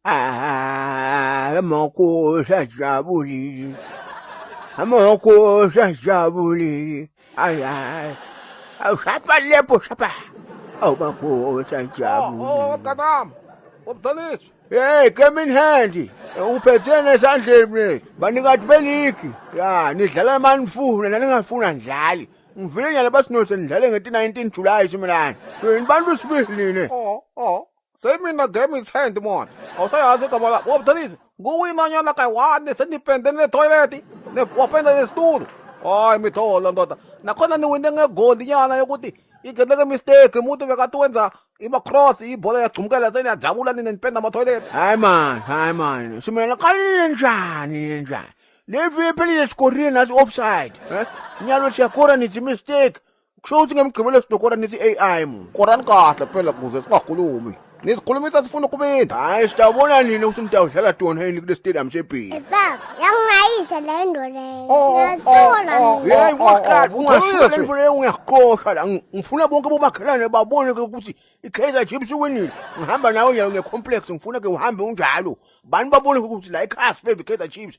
Ah, amakhosi ajabulile amakhosi ajabulile ayi hayi awushapha lepo shapha awu makhosi ajabulile Oh, mntanami umdonisi Hey, came in handy. Uphetheni esandleni mina. Banikati beligi. Ya, nidlala manifuna naningafuna nidlali. Ngivile nyala basinose nidlale ngeti 19 July simelana. Yini bantu sibili nina. o o se imina game is hand manje awusayazi igama lakho wabudalise nguwinanyana kayi-one senipende netoyileti wapenda nesitulo hayi mitholo ndoda nakhona niwine ngegoli nyana yokuthi igeleke mistake umuntu bekati wenza imacross ibhola yagcumukela seniyajabula nina nipenda amatoyileti hayi mani hayi mani simelana qalile njani njani levi ephelile sikorile nasi offside nyalo siyakora nithi mistake kusho ukuthi ngemgqibelo sidokora nithi ai mu korani kahle phela kuze singakhulumi nisikhulumisa sifuna ukubinda hayi sitawubona nini ukuthi nitawudlala tonheni kule stadium sebhili yangayise le nto leyoyeyi waqala ungashiyo le nto leyo ngiyaqosha la ngifuna bonke bomakhelwane babone ke ukuthi i-kaizer chips iwinile ngihamba nawe nyalo nge-complex ngifuna ke uhambe unjalo bani babone ukuthi la ikhasi beve i-kaizer chips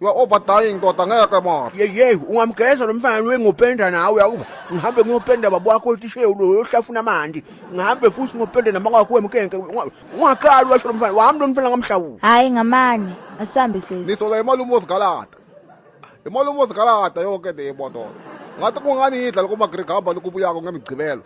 You are over dying ndoda ngeke manje. Yeyey ungamgeza lo mfana lo engopenda nawe yakuva. Ngihambe ngiyopenda baba wakho otishewu lo yohlafuna amanti. Ngihambe futhi ngopenda nama kwakho wemkenke. Ungaqali washo lo mfana. Wahambe lo mfana ngamhlawula. Hayi ngamane. Asambe sesi. Nisola imali umuzi galata. Imali umuzi galata yonke le moto. Ngathi kungani idla lokuma Greg hamba lokubuyako ngemigcibelo.